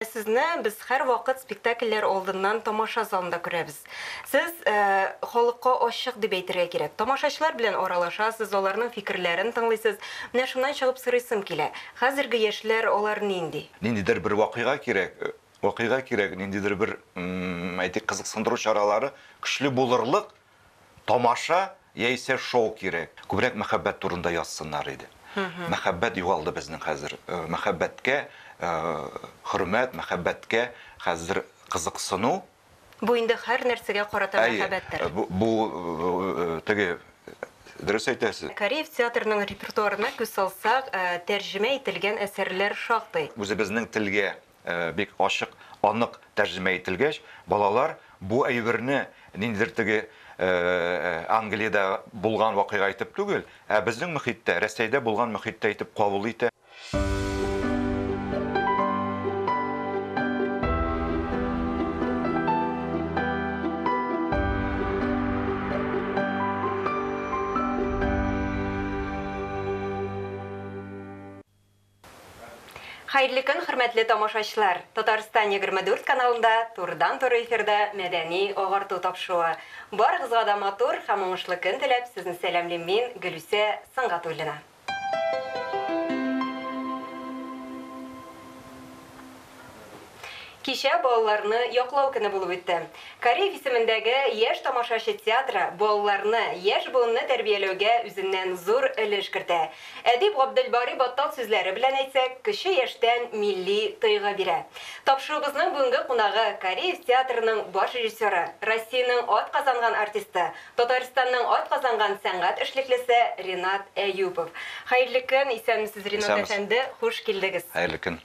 Ә сезне без һәрвакыт спектакльләр алдыннан тамаша залында күрәбез. Сез халыкка ачык дип әйтергә кирәк. Тамашачылар белән аралашасыз, аларның фикерләрен тыңлыйсыз. Менә шуннан чыгып сорыйсым килә, хәзерге яшьләр алар нинди? Ниндидер бер вакыйга кирәк, вакыйга кирәк, ниндидер бер, әйтик, кызыксындыру чаралары көчле булырлык, Тамаша яисә шоу кирәк. Күбрәк мәхәббәт турында язсыннар иде. Мәхәббәт югалды безнең хәзер. Мәхәббәткә хөрмәт, мәхәббәткә хәзер кызыксыну. Бу инде һәр нәрсәгә карата мәхәббәттер. Әйе, бу теге, дөрес әйтәсез. Кариев театрының репертуарына күз салсак, тәрҗемә ителгән әсәрләр шактый. Үзебезнең телгә Бик ачык, анык тәрҗемә ителгәч, балалар бу әйберне ниндидер теге Англиядә булган вакыйга итеп түгел, ә безнең мөхиттә, Рәсәйдә булган мөхиттә итеп кабул итә. Хәерле көн, хөрмәтле тамашачылар! Татарстан 24 каналында турыдан-туры эфирда мәдәни агарту тапшыруы. Барыгызга да матур һәм уңышлы көн теләп, сезне сәламлим мин, Гөлүсә Сөнгатуллина. Кичә балаларны яклау көне булып үтте. Кариев исемендәге Яшь тамашачы театры балаларны, яшь буынны тәрбияләүгә үзеннән зур өлеш кертә. Әдип Габделбари Баттал сүзләре белән әйтсәк, кече яшьтән милли тойгы бирә. Тапшыруыбызның бүгенге кунагы, Кариев театрының баш режиссеры, Россиянең атказанган артисты, Татарстанның атказанган сәнгать эшлеклесе Ринат Әюпов. Хәерле көн, исәнмесез, Ринат әфәнде, хуш килдегез! Хәерле көн!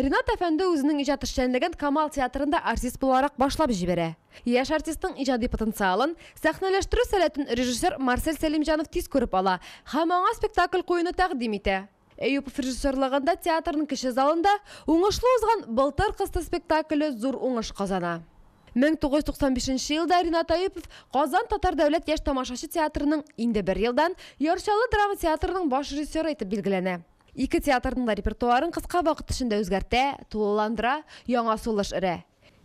Ринат әфәнде үзенең иҗат эшчәнлеген Камал театрында артист буларак башлап җибәрә. Яшь артистның иҗади потенциалын, сәхнәләштерү сәләтен режиссер Марсель Сәлимҗанов тиз күреп ала һәм аңа спектакль куюны тәкъдим итә. Әюпов режиссерлыгында театрның кече залында уңышлы узган Былтыр кысты спектакле зур уңыш казана. 1995 нче елда Ринат Әюпов Казан татар дәүләт яшь тамашачы театрының, инде бер елдан, Яр Чаллы драма театрының баш режиссеры итеп билгеләнә. Ике театрның да репертуарын кыска вакыт эчендә үзгәртә, тулыландыра, яңа сулыш өрә.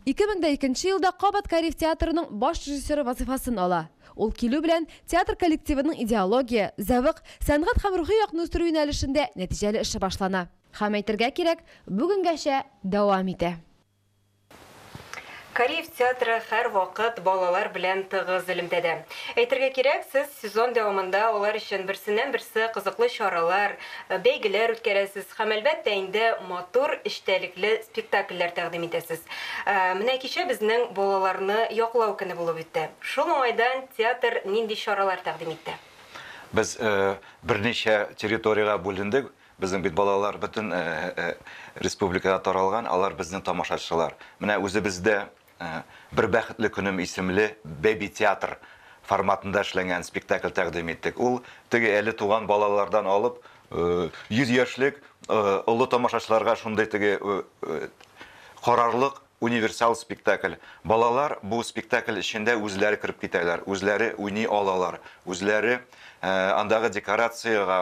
2002 елда кабат Кариев театрының баш режиссеры вазыйфасын ала. Ул килү белән, театр коллективының идеология, зәвык, сәнгать һәм рухи якны үстерү юнәлешендә нәтиҗәле эше башлана. Һәм әйтергә кирәк, бүгенгәчә дәвам итә. Кариев театры һәрвакыт балалар белән тыгыз элемтәдә. Әйтергә кирәк, сез сезон дәвамында алар өчен берсеннән-берсе кызыклы чаралар, бәйгеләр үткәрәсез һәм, әлбәттә инде, матур эчтәлекле спектакльләр тәкъдим итәсез. Менә кичә безнең Балаларны яклау көне булып үтте. Шул уңайдан театр нинди чаралар тәкъдим итте? Без берничә территориягә бүлендек, Безнең бит балалар бөтен республикага таралган, алар безнең тамашачылар. Менә үзебездә Бер бәхетле көнем исемле бэби-театр форматында эшләнгән спектакль тәкъдим иттек. Ул теге әле туган балалардан алып, 100 яшьлек олы тамашачыларга шундый теге карарлык, Универсал спектакль. Балалар бу спектакль эчендә үзләре кереп китәләр, үзләре уйный алалар, үзләре андагы декорациягә,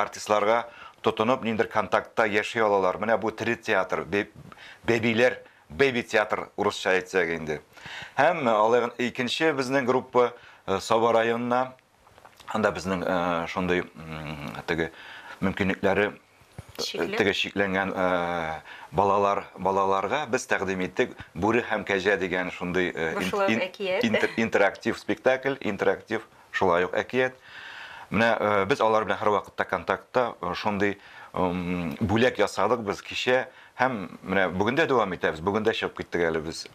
артистларга тотынып, ниндидер контактта яши алалар. Менә бу тере театр, бәбиләр, baby театр, урысча әйтсәк инде. Һәм алар икенче безнең группа Саба районына Анда безнең э, шундый м, теге мөмкинлекләре Чикле. теге чикләнгән э, балалар балаларга без тәкъдим иттек Бүре һәм кәҗә дигән шундый э, Бу шулай ук әкият. интер- интерактив спектакль, интерактив шулай ук әкият. Менә э, без алар белән һәрвакытта контактта, э, шундый м, бүләк ясадык без кичә Һәм менә бүген дә дәвам итәбез. Бүген дә чыгып киттек әле без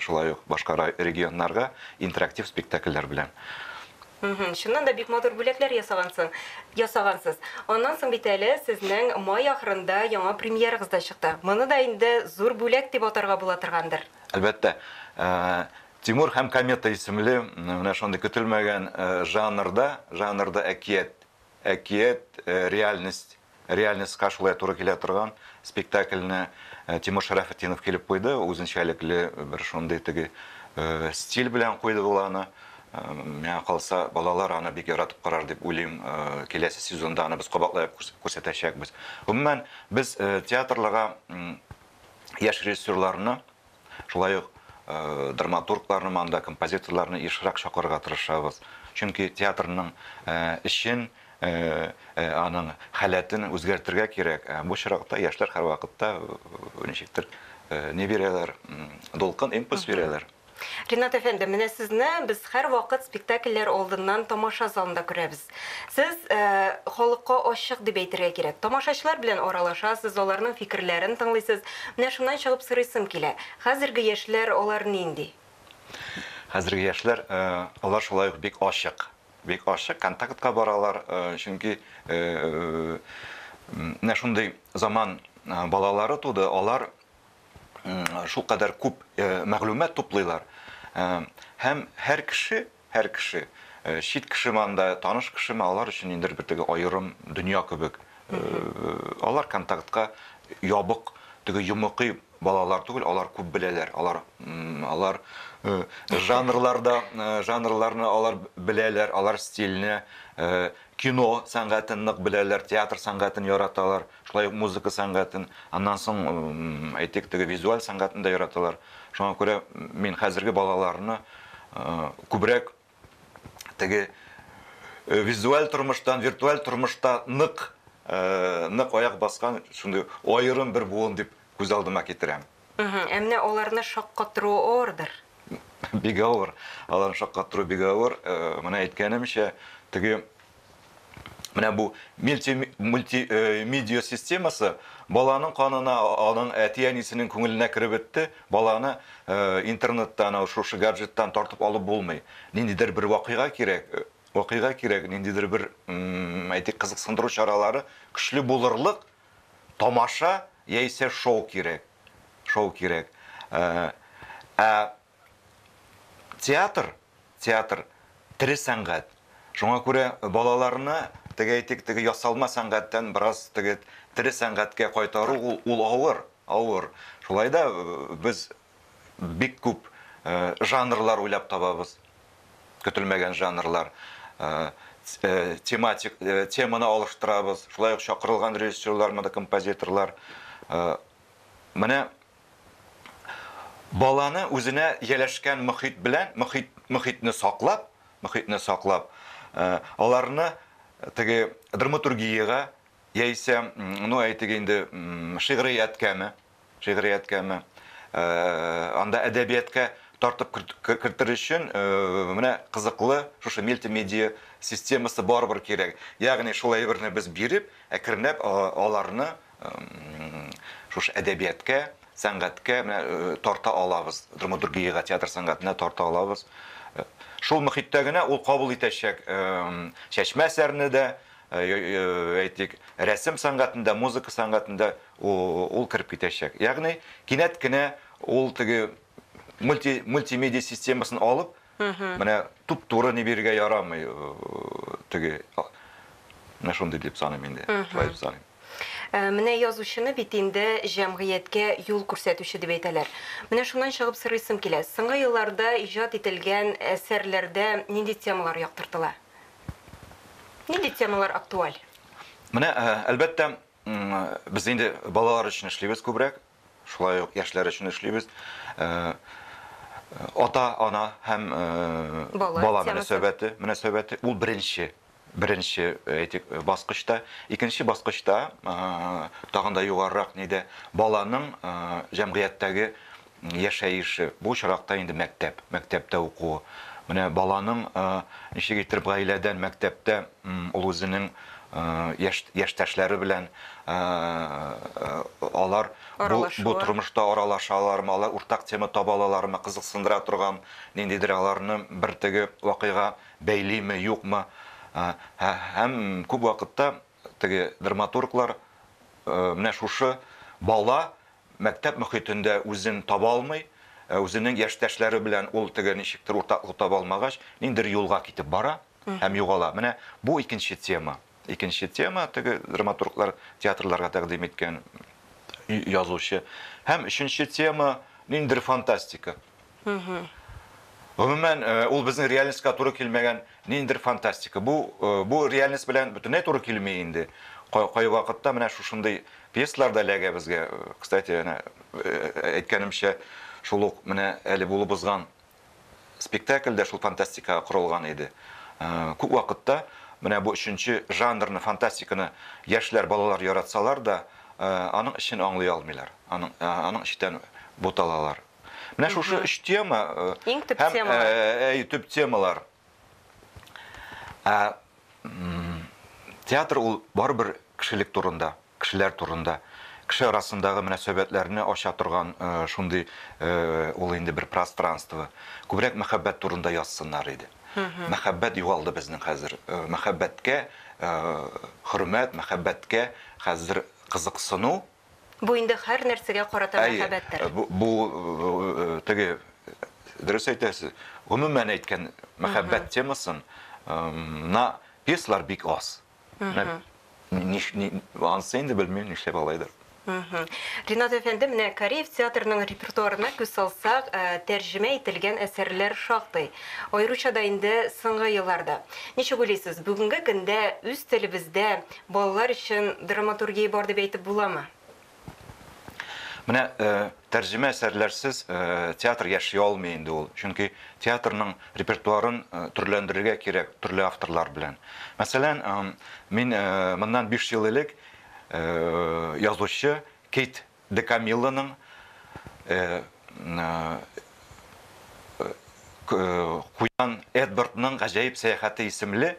шулай ук башка регионнарга интерактив спектакльләр белән. Чыннан да бик матур бүләкләр ясагансың, ясагансыз. Аннан соң бит әле сезнең май ахырында яңа премьерагыз да чыкты. Моны да инде зур бүләк дип атарга була торгандыр. Әлбәттә, Тимур һәм комета исемле менә шундый көтелмәгән жанрда, жанрда әкият Әкият, реальность, реальностька шулай туры килә торган спектакльне Тимур Шәрәфетдинов килеп куйды, үзенчәлекле бер шундый теге стиль белән куйды ул аны. Миңа калса, балалар аны бик яратып карар дип уйлыйм. Киләсе сезонда аны без кабатлап күрсәтәчәкбез. Гомумән, без театрларга яшь режиссерларны Шулай ук драматургларны монда, композиторларны ешрак чакырырга тырышабыз. Чөнки театрның эшен, аның халәтен үзгәртергә кирәк. Бу чоракта яшьләр һәрвакытта ничектер ни бирәләр, дулкын, импульс бирәләр. Ринат әфәнде, менә сезне без һәрвакыт спектакльләр алдыннан тамаша залында күрәбез. Сез халыкка ачык дип әйтергә кирәк. Тамашачылар белән аралашасыз, аларның фикерләрен тыңлыйсыз. Менә шуннан чыгып сорыйсым килә, хәзерге яшьләр алар нинди? Хәзерге яшьләр, алар шулай ук бик ачык. Бик ачык, контактка баралар, чөнки менә шундый заман балалары туды, алар шулкадәр күп мәгълүмат туплыйлар һәм һәр кеше, Һәр кеше, чит кешеме анда, таныш кешеме, алар өчен ниндидер бер теге аерым дөнья кебек. Алар контактка ябык, теге йомыкый балалар түгел, алар күп беләләр, алар алар жанрларда жанрларны алар беләләр, алар стильне, кино сәнгатен нык беләләр, театр сәнгатен яраталар. Шулай ук музыка сәнгатен, аннан соң, әйтик, теге визуаль сәнгатен дә яраталар. Шуңа күрә мин хәзерге балаларны күбрәк теге визуаль тормыштан, виртуаль тормышта нык, нык аяк баскан шундый аерым бер буын дип күз алдыма китерәм. Ә менә аларны шаккатыру авырдыр? Бик авыр. Аларны шаккатыру бик авыр. Менә әйткәнемчә, теге Менә бу мультимедиа э, системасы баланың канына, аның әти-әнисенең күңеленә кереп бетте. Баланы э, интернеттан, шушы гаджеттан тартып алып булмый. Ниндидер бер вакыйга кирәк, э, вакыйга кирәк, ниндидер бер, әйтик, кызыксындыру чаралары көчле булырлык, Тамаша яисә шоу кирәк. Шоу кирәк. Ә театр, театр, тере сәнгать. Шуңа күрә балаларны, теге әйтик, теге ясалма сәнгатьтән бераз теге тере сәнгатькә кайтару ул, ул авыр, авыр. Шулай да без, бик күп жанрлар уйлап табабыз. Көтелмәгән жанрлар. Тематик теманы алыштырабыз. Шулай ук чакырылган режиссерлар, монда композиторлар. Менә баланы үзенә ияләшкән мөхит белән, мөхит, мөхитне саклап, мөхитне саклап, э, аларны теге драматургиягә яисә, ну, әйтик инде, шигърияткәме, Шигърияткәме, анда әдәбияткә тартып кертер өчен менә кызыклы шушы мультимедиа системасы барыбер кирәк. Ягъни шул әйберне без биреп, әкренләп аларны шушы әдәбияткә, сәнгатькә менә тарта алабыз, драматургиягә, театр сәнгатенә тарта алабыз. Шул мөхиттә генә ул кабул итәчәк Чәчмә әсәрне дә, әйтик, рәсем сәнгатендә, музыка сәнгатендә ул кереп китәчәк. Ягъни, кинәт кенә ул теге мульти, мультимедиа системасын алып, менә туп-туры ни бирергә ярамый, теге менә шундый дип саныйм инде, шулай дип саныйм. Менә язучыны бит инде җәмгыятькә юл күрсәтүче дип әйтәләр. Менә шуннан чыгып сорыйсым килә, соңгы елларда иҗат ителгән әсәрләрдә нинди темалар яктыртыла? Нинди темалар актуаль? Менә, әлбәттә, Без инде балалар өчен эшлибез күбрәк, шулай ук яшьләр өчен эшлибез. Ата, ана һәм бала, бала мөнәсәбәте, мөнәсәбәте ул беренче беренче әйтик баскычта, икенче баскычта тагын да югарырак нидә баланың җәмгыятьтәге яшәеше, бу очракта инде мәктәп, мәктәптә укуы. Менә баланың, ничек итеп гаиләдән, мәктәптә ул үзенең яшь яшьтәшләре белән алар бу тормышта аралашалар, алар уртак тема таба алалармы, кызыксындыра торган ниндидер аларны бер теге вакыйга бәйлиме, юкмы? Һәм күп вакытта Теге драматурглар менә шушы бала мәктәп мөхитендә үзен таба алмый, үзенең яшьтәшләре белән ул теге ничектер уртаклык таба алмагач, ниндидер юлга китеп бара һәм югала. Менә бу икенче тема. Икенче тема, теге драматурглар театрларга тәкъдим иткән язучы. Һәм өченче тема, ниндидер фантастика. Гомумән, ул безнең реальностька туры килмәгән ниндидер фантастика. Бу, бу реальность белән бөтенләй туры килми инде. Кайвакытта менә шушындый пьесалар да эләгә безгә. Кстати, әнә әйткәнемчә, шул ук менә әле булып узган спектакль дә шул фантастикага корылган иде. Күп вакытта менә бу өченче жанрны, фантастиканы яшьләр, балалар яратсалар да, аның эчен аңлый алмыйлар, аның, аның читән буталалар. Менә шушы өч тема э, иң төп темалар. Э, э, төп темалар. Ә, театр ул барыбер кешелек турында, кешеләр турында кеше арасындагы мөнәсәбәтләрне ача торган э, шундый э, ул инде бер пространство. Күбрәк мәхәббәт турында язсыннар иде. Мәхәббәт югалды безнең хәзер. Э, мәхәббәткә хөрмәт, мәхәббәткә хәзер кызыксыну Бу инде һәр нәрсәгә карата Әйе, мәхәббәттер. бу, бу э, теге дөрес әйтәсез. Гомумән әйткән мәхәббәт темасын эм, на пьесалар бик аз. Менә ниш- ни- Анысы инде белмим нишләп алайдыр. Мгм. Ринат әфәнде, менә Кореев театрының репертуарына күз салсак, э, тәрҗемә ителгән әсәрләр шактый. Аеруча да инде соңгы елларда. Ничек уйлыйсыз, бүгенге көндә үз телебездә Балалар өчен драматургия бар дип әйтеп буламы? Менә тәрҗемә әсәрләрсез театр яши алмый инде ул. Чөнки театрның репертуарын төрләндерергә кирәк төрле авторлар белән. Мәсәлән, мин моннан биш ел элек язучы Кейт Де Камиллоның Куян Эдвардның гаҗәеп сәяхәте исемле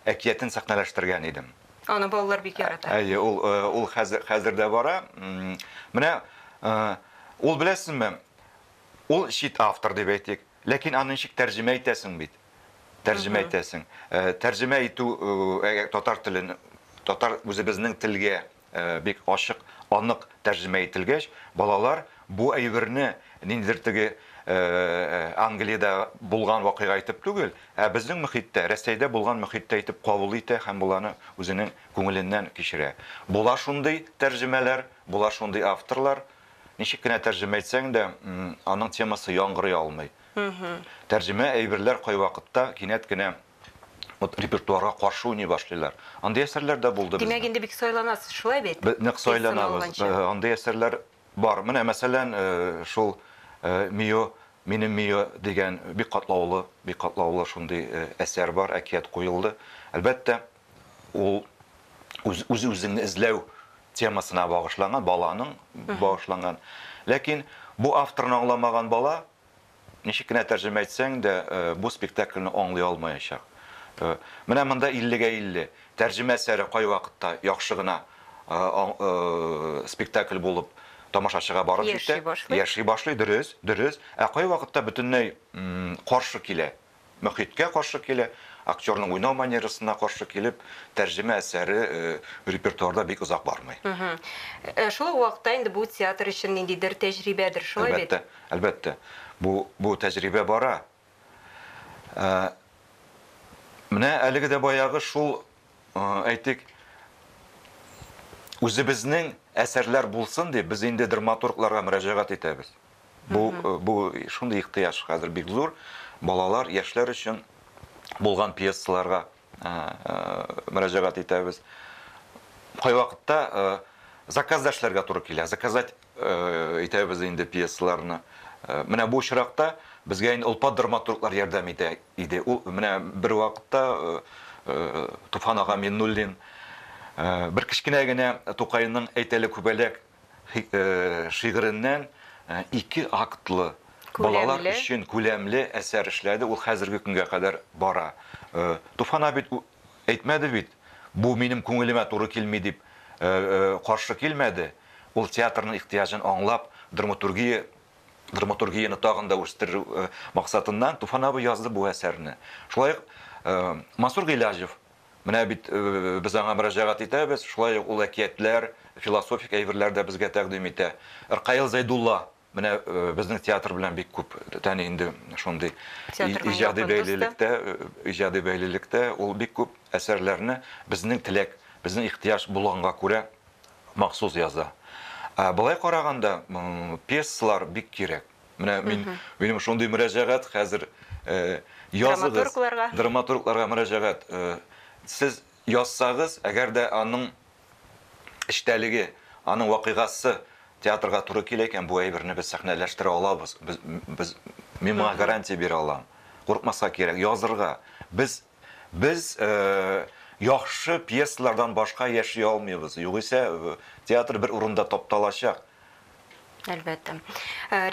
әкиятен сәхнәләштергән идем. Аны балалар бик ярата. Әйе, ул ул хәзер хәзер дә бара. Менә ул беләсезме, ул чит автор дип әйтик, ләкин аны ничек тәрҗемә итәсең бит? Тәрҗемә итәсең. Тәрҗемә итү татар телен татар үзебезнең телгә Бик ачык, анык тәрҗемә ителгәч, балалар бу әйберне ниндидер теге Англиядә булган вакыйга итеп түгел, ә безнең мөхиттә, Рәсәйдә булган мөхиттә итеп кабул итә һәм боларны үзенең күңеленнән кичерә. Була шундый тәрҗемәләр, була шундый авторлар, ничек кенә тәрҗемә итсәң дә, аның темасы яңгырый алмый. Тәрҗемә әйберләр кайвакытта кинәт кенә Вот репертуарга каршы уйный башлыйлар. Андый әсәрләр дә булды бездә. Димәк, инде бик сайланасыз, шулай бит? Без нык сайланабыз. Андый әсәрләр бар. Менә, мәсәлән, шул Мио, минем Мио дигән бик катлаулы, бик катлаулы шундый әсәр бар, әкият куелды. Әлбәттә, ул үз-үзеңне эзләү темасына багышланган, баланың багышланган. Ләкин бу авторны аңламаган бала, Ничек кенә тәрҗемә итсәң дә, бу спектакльне аңлый алмаячак. Менә монда иллегә илле. Тәрҗемә әсәре кайвакытта яхшы гына спектакль булып тамашачыга барып җитә, яши башлый, дөрес, дөрес. Ә кайвакытта бөтенләй каршы килә. Мохиткә каршы килә, актерның уйнау манерасына каршы килеп, тәрҗемә әсәре репертуарда бик озак бармый. Ә шул ук вакытта инде бу театр өчен ниндидер тәҗрибәдер, шулай бит? Әлбәттә, әлбәттә. Бу, бу тәҗрибә бара. Менә әлеге дә баягы шул әйтик, үзебезнең әсәрләр булсын дип, без инде драматургларга мөрәҗәгать итәбез. Бу, э, бу шундый ихтыяҗ хәзер бик зур. Балалар, яшьләр өчен булган пьесаларга э, э, мөрәҗәгать итәбез. Кайвакытта э, заказ да эшләргә туры килә. Заказать э, итәбез инде пьесаларны. Э, менә бу очракта безгә инде олпат драматурглар ярдәм итә. Иде. Ул менә бервакытта Туфан ага Миннуллин бер кечкенә генә Тукайның Әйтәле күбәләк шигыреннән ике актлы, балалар өчен күләмле әсәр эшләде, ул хәзерге көнгә кадәр бара. Туфан абый әйтмәде бит, бу минем күңелемә туры килми дип каршы килмәде, ул театрның ихтыяҗын аңлап, драматургия драматургияне тагын да үстерү максатыннан Туфан абый язды бу әсәрне. Шулай ук Мансур Гыйләҗев Менә бит без аңа мөрәҗәгать итәбез, шулай ук ул әкиятләр, философик әйберләр дә безгә тәкъдим итә. Ркаил Зәйдулла менә безнең театр белән бик күп тәни инде шундый иҗади бәйлелектә, иҗади бәйлелектә ул бик күп әсәрләрне безнең теләк, безнең ихтыяҗ булганга күрә махсус яза. Ә болай караганда, пьесалар бик кирәк. Менә мин, минем шундый мөрәҗәгать хәзер э, языгыз. Драматургларга. Драматургларга мөрәҗәгать. Э, сез язсагыз, әгәр дә аның эчтәлеге, аның вакыйгасы театрга туры килә икән, бу әйберне без сәхнәләштерә алабыз. Без, без мин моңа гарантия бирә алам. Курыкмаска кирәк, язырга. Без Без яхшы пьесалардан башка яши алмыйбыз, югыйсә театр бер урында тапталачак. Әлбәттә.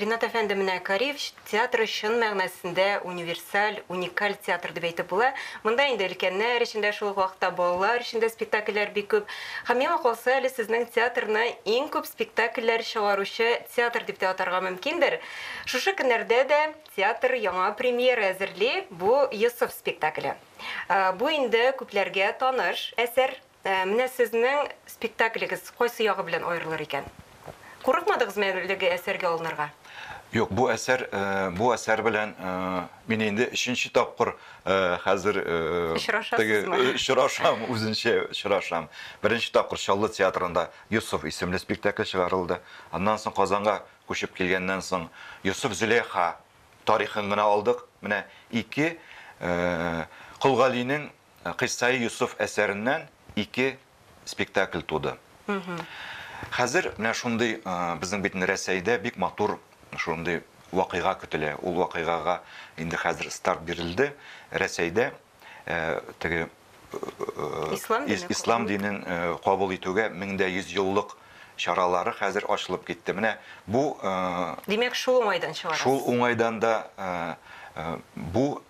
Ринат әфәнде, менә Кариев театры чын мәгънәсендә универсаль, уникаль театр дип әйтеп була. Монда инде өлкәннәр өчен дә, шул ук вакытта балалар өчен дә спектакльләр бик күп. Һәм миңа калса, әле сезнең театрны иң күп спектакльләр чыгаручы театр дип тә атарга мөмкиндер. Шушы көннәрдә дә Театр яңа премьера әзерли, бу Йосыф спектакле. Бу инде күпләргә таныш әсәр. Менә сезнең спектаклегез кайсы ягы белән аерылыр икән? Курыкмадыгызмы әлеге әсәргә алынырга? Юк, бу әсәр, бу әсәр белән мин инде өченче тапкыр хәзер Очрашасызмы? Очрашам, үзенчә очрашам. Беренче тапкыр Чаллы театрында Йосыф исемле спектакль чыгарылды. Аннан соң Казанга Күчеп килгәннән соң Йосыф-Зөләйха тарихын гына алдык. Менә ике Кол Галинең Кыйссаи Йосыф әсәреннән ике спектакль туды. Хәзер менә шундый безнең бит инде Рәсәйдә бик матур шундый вакыйга көтелә. Ул вакыйгага инде хәзер старт бирелде. Рәсәйдә теге ислам динен кабул итүгә 1100 еллык чаралары хәзер ачылып китте. Менә бу Димәк, шул уңайдан чыгарасыз. Шул уңайдан да бу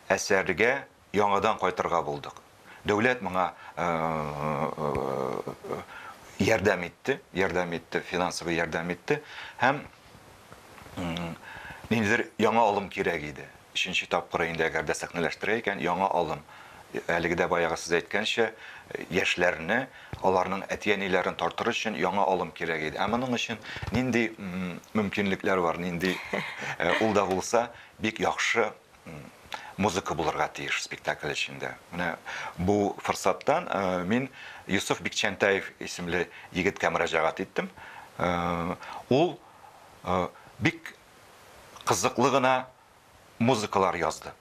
әсәргә яңадан кайтырга булдык. Дәүләт моңа ярдәм итте, ярдәм итте, финансовый ярдәм итте һәм Ниндидер яңа алым кирәк иде. Өченче тапкыры инде әгәр дә сәхнәләштерә икән, яңа алым. Әлеге дә баягы сез әйткәнчә, яшьләрне, аларның әти-әниләрен тартыр өчен яңа алым кирәк иде. Ә моның өчен нинди мөмкинлекләр бар, нинди ул да булса бик яхшы музыка булырга тиеш спектакль эчендә. Менә бу форсаттан мин Юсуф Бикчәнтаев исемле егеткә мөрәҗәгать иттем. Ул бик кызыклы гына музыкалар язды.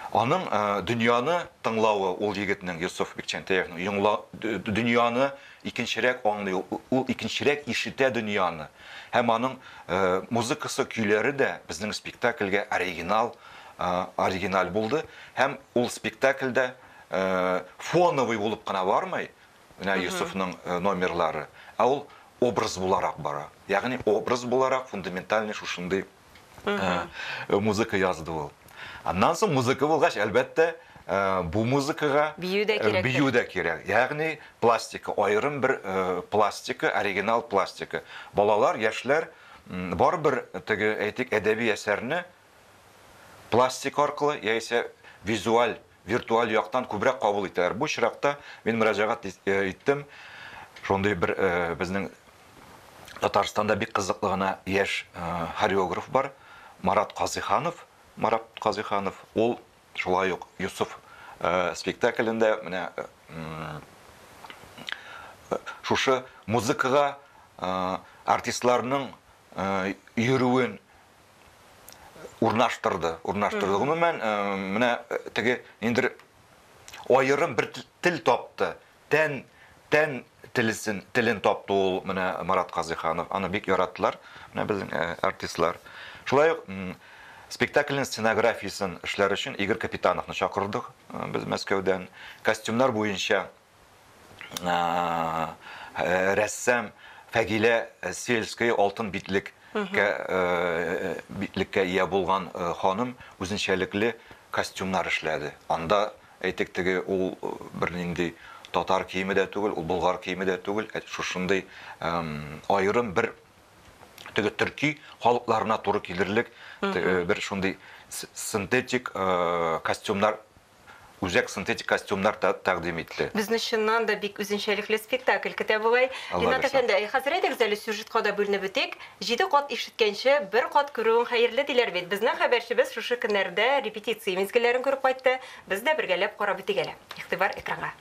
Аның дөньяны тыңлавы ул егетнең, Йосыф Бикчәнтәевның, йоңла, дөньяны икенчерәк аңлый, ул икенчерәк ишетә дөньяны. Һәм аның музыкасы, көйләре дә безнең спектакльгә оригинал, оригиналь булды. Һәм ул спектакльдә фоновый булып кына бармый, Менә Йосыфның номерлары. Ә ул образ буларак бара. Ягъни образ буларак фундаментальный шушындый музыка язды ул. Аннан соң музыка булгач, әлбәттә, бу музыкага бию дә кирәк. Бию дә кирәк. Ягъни пластика, аерым бер пластика, оригинал пластика. Балалар, яшьләр барыбер теге, әйтик, әдәби әсәрне пластика аркылы яисә визуаль виртуаль яктан күбрәк кабул итәләр. Бу очракта мин мөрәҗәгать иттем шундый бер безнең Татарстанда бик кызыклы гына яшь хореограф бар, Марат Казыйханов. Марат Казыйханов, ул шулай ук Юсуф спектаклендә менә шушы музыкага артистларның йөрүен урнаштырды. Урнаштырды. Гомумән, менә теге инде аерым бер тел тапты. Тән, тән телесен, телен тапты ул менә Марат Казыйханов. Аны бик яраттылар, менә безнең артистлар. Шулай ук спектакльнең сценографиясен эшләр өчен Игорь Капитановны чакырдык без Мәскәүдән. Костюмнар буенча рәссам Фәгилә Сельская алтын битлек битлеккә ия булган ханым үзенчәлекле костюмнар эшләде. Анда әйтик теге ул бернинди татар киеме дә түгел, ул болгар киеме дә түгел, шушындый аерым бер теге төрки халыкларына туры килерлек бер шундый синтетик костюмнар Үзәк синтетик костюмнар тәкъдим итте. Безне чыннан да бик үзенчәлекле спектакль көтә бугай. Ринат әфәнде, әй, хәзер әйдәгез әле сюжетка да бүленеп бетик. Җиде кат ишеткәнче, бер кат күрүең хәерле, диләр бит. Безнең хәбәрчебез шушы көннәрдә репетиция мизгелләрен күреп кайтты. Без дә бергәләп карап үтик әле. Игътибар экранга.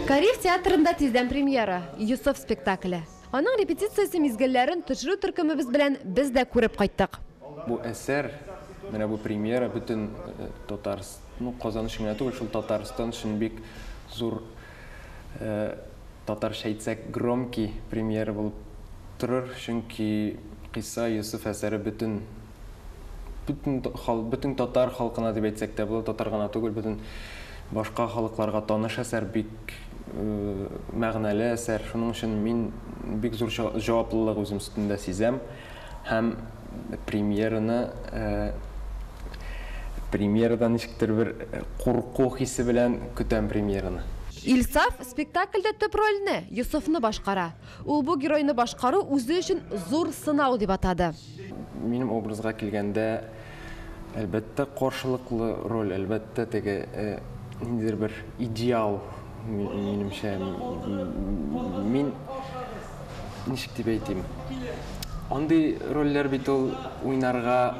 Кариев театрында тиздән премьера, Йосыф спектакле. Аның репетициясе мизгелләрен төшерү төркемебез белән без дә күреп кайттык. Бу әсәр, менә бу премьера бөтен Татарс-, ну, Казан өчен генә түгел, шул Татарстан өчен бик зур, татарча әйтсәк, громкий премьера булып торыр, чөнки Кыйса Йосыф әсәре бөтен бөтен хал, бөтен татар халкына дип әйтсәк тә була, татар гына түгел, бөтен башка халыкларга таныш әсәр, бик э, мәгънәле әсәр. Шуның өчен мин бик зур җаваплылык үзем өстендә сизәм һәм премьераны э, премьерадан ничектер бер э, курку хисе белән көтәм премьераны. Илсаф спектакльдә төп рольне, Йосыфны башкара. Ул бу геройны башкару үзе өчен зур сынау дип атады. Минем образга килгәндә, әлбәттә, каршылыклы роль, әлбәттә, теге ниндидер бер идеал, минемчә. Мин, ничек дип әйтим, андый рольләр бит ул уйнарга,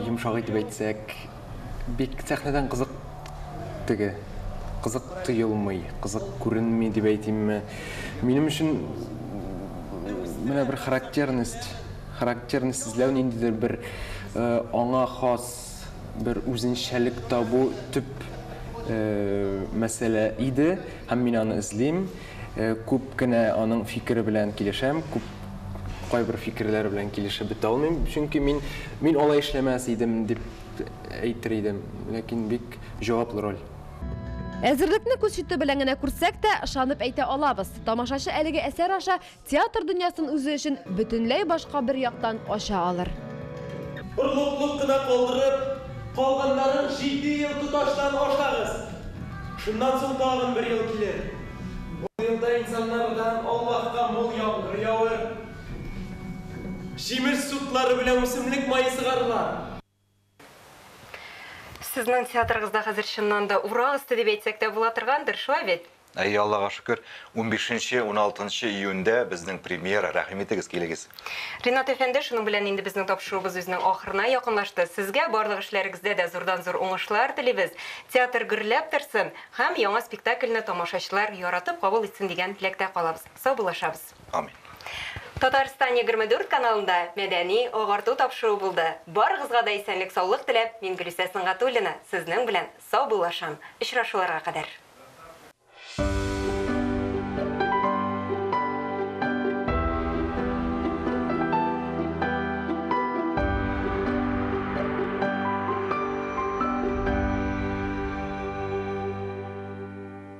йомшак итеп әйтсәк, Бик сәхнәдән кызык теге, кызык тоелмый, кызык күренми дип әйтимме. Минем өчен менә бер характерность, характерность эзләү ниндидер бер аңа хас бер үзенчәлек табу төп мәсьәлә иде һәм мин аны эзлим. Күп кенә аның фикере белән килешәм, күп кайбер фикерләр белән килешеп бетә алмыйм, чөнки мин мин алай эшләмәс идем дип әйтер идем, ләкин бик җаваплы роль. Әзерлекне күз чите белән генә күрсәк тә, ышанып әйтә алабыз, тамашачы әлеге әсәр аша Театр дөньясын үзе өчен бөтенләй башка бер яктан ача алыр. Орлыклык кына калдырып, калганнарын җиде ел тоташтан ашагыз. Шуннан соң тагын бер ел килер. Бу елда инсаннардан Аллаһка мул яңгыр явыр. Җимеш сутлары белән үсемлек мае сыгарыла. Сезнең театрыгызда хәзер чыннан да урак өсте дип әйтсәк тә була торгандыр, шулай бит? Әйе, Аллага шөкер, унбишенче, уналтынчы июньдә безнең премьера, рәхим итегез, килегез. Ринат әфәнде, шуның белән инде безнең тапшыруыбыз үзенең ахырына якынлашты. Сезгә барлык эшләрегездә дә зурдан-зур уңышлар телибез, театр гөрләп торсын һәм яңа спектакльне тамашачылар яратып кабул итсен дигән теләктә калабыз. Саубуллашабыз. Амин. Татарстан 24 каналында мәдәни, агарту тапшыруы булды. Барыгызга да исәнлек саулык теләп, мин Гөлүсә Сөнгатуллина, сезнең белән саубуллашам. Очрашуларга кадәр.